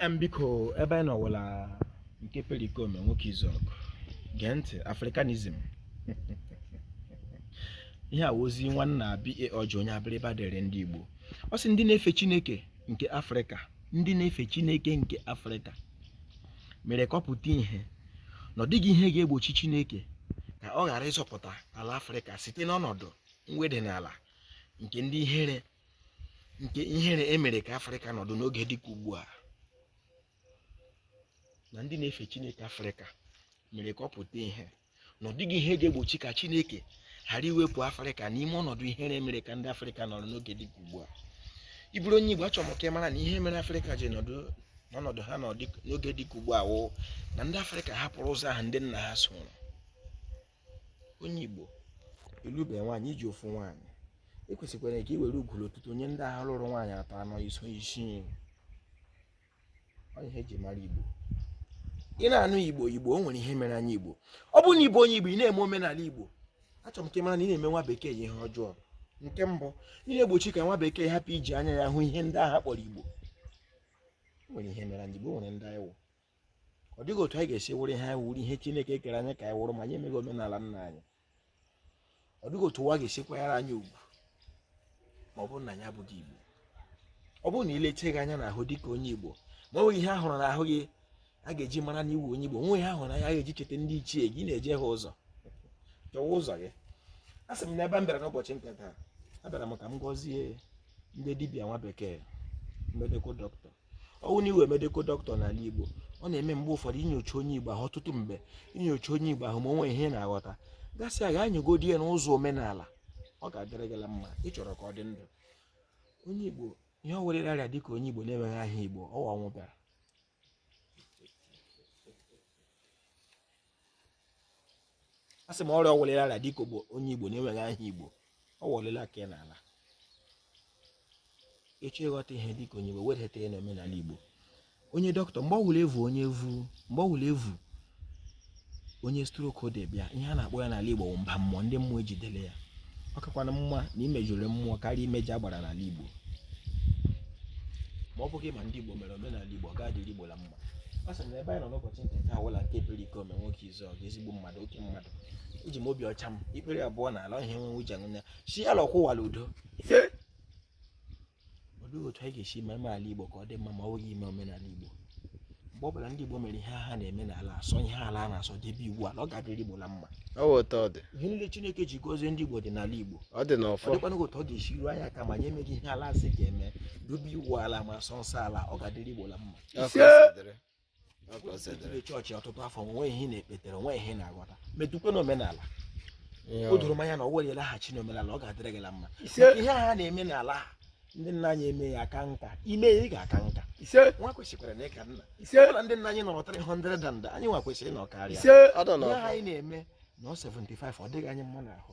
Em, biko ebe anyị nọwụla nke perikome nwoke izuọgụ gee ntị afrikanism ihe a wụ ozi nwanna ba ọjọ onye abịrịba dere ndị igbo ọ sị ndị na-efe chineke nke afrịka ndị na-efe chineke nke afrịka mere ka ọ pụta ihe na ọ dịghị ihe ga-egbochi chineke ka ọ ghara ịzọpụta ala afrịka site n'ọnọdụ mweda n'ala nke ndị ihere nke ihere emere ka afrịka nọdụ n'oge dịka ugbu a na ndị na-efe chineke afrịka mere ka ọ pụta ihe na ọ dịghị ihe ga-egbochi ka chineke ghara iwepụ afrịka n'ime ọnọdụ ihere mere ka ndị afrịka nọrọ n'oge dịka ugbu a ị bụrụ onye igbo achọrọ m ka ị mara na ihe mere afrịka ji nọdụ n'ọnọdụ ha n'oge dịka ugbu a wụ na ndị afrịka hapụrụ ụzọ ahụ ndị nna ha soro onye Igbo ị lụbe nwaanyị i ji ofu nwaanyị i kwesịkwara ka i were ugwuru ụtụtụ onye ndị nna ha lụrụ nwaanyị atọ anọ iso isii ihe eji mara Igbo ị na-anụ Igbo Igbo o nwere ihe mere anyị Igbo ọ bụrụ na ị bụ onye Igbo ị na-eme omenala Igbo achọrọ m ka ị mara na ị na-eme nwa bekee ihe ọjọọ nke mbụ ị na-egbochi ka nwa bekee hapụ iji anya ya hụ ihe ndị nna ha kpọrọ Igbo nwere ihe mere anyị Igbo nwere ndị anyị wụ ọ dịghị otu anyị ga-esi wụrụ ihe anyị wụrụ ihe Chineke kere anyị ka anyị wụrụ ma anyị emeghị omenala nna anyị ọ dịghị otu ụwa ga-esi kwanyere anyị ugwu ma ọ bụrụ na anyị abụghị Igbo ọ bụrụ na e leche gị anya n'ahụ dị ka onye Igbo ma ọ nweghị ihe ahụrụ n'ahụ gị a ga-eji mara na ị wụ onye Igbo nwe ihe ahụrụ na ya ga-eji cheta ndị ichie gị na-ejehie ụzọ chọwa ụzọ gị a sị m na ebe m bịara n'ụbọchị nke taa abịara m ka m gọzie ndị dibịa nwa bekee medical doctor ọwụ na ị wụ medical doctor n'ala Igbo ọ na-eme mgbe ụfọdụ i nyochaa onye Igbo ahụ ọtụtụ mgbe i nyochaa onye Igbo ahụ ma o nwee ihe na-aghọta gasị a ga-anyụgodi ya n'ụzọ omenala ọ ga-adịrị gịla mma ị chọrọ ka ọ dị ndụ onye Igbo ihe ọ werere arịa dịka onye Igbo na-enweghị aha Igbo ọwa ọnwụ bịara a sị m ọrịa ọwụlịla ala dịka onye igbo na-enweghị aha igbo ọ wọlịla ka ị n'ala ị chọọ ịghọta ihe dịka onye igbo wedata ya n'omenala igbo onye dọkịta mgbe ọwụla evu onye evu mgbe ọwụla evu onye stroke dị bịa ihe a na-akpọ ya n'ala igbo bụ mba mmụọ ndị mmụọ ejidele ya ọ kakwana mma na i mejọrọ mmụọ karịa imejọ agbara n'ala igbo ma ọ bụghị ma ndị igbo mere omenala igbo ọ ga-adịrị igbo la mma asị m na ebe anyị nọ n'ụbọchị nke taa wụla nke perikome nwoke izuọgụ ezigbo mmadụ oke mmadụ eji m obi ọcha m ikpere abụọ na ala ọhịa enwe uche nne si ala ọkwụwala udo olee otu anyị ga-esi eme ala igbo ka ọ dị mma ma ọ bụghị ime omenala igbo mgbe ọ bụla ndị igbo mere ihe ha na-eme n'ala sọ ihe ala na-asọ debe iwu ala ọ ga-adịrị igbo la mma ihe niile chineke ji gozie ndị igbo dị n'ala igbo ọ dịkwana otu ọ ga-esi ruo anyị aka ma anyị emeghị ihe ala sị ga-eme dobe iwu ala ma sọ nsọ ala ọ ga-adịrị igbo la mma chọọchị ọtụtụ afọ o nwe ihe ị na-ekpetere o nwe ihe ị na-aghọta metụkwa n'omenala o doro m anya na ọ wụrụ ị laghachi n'omenala ọ ga-adịrị gị la mma ihe ha na-eme n'ala ha ndị nna anyị eme ya aka nka i mee ya ị ga-aka nka nwa kwesịkwaranụ ịka nna na ndị nna anyị nọrọ 300 and anyị nwa kwesịrị ịnọkarịa ihe anyị na-eme anọ 75 ọ dịghị anyị mma n'ahụ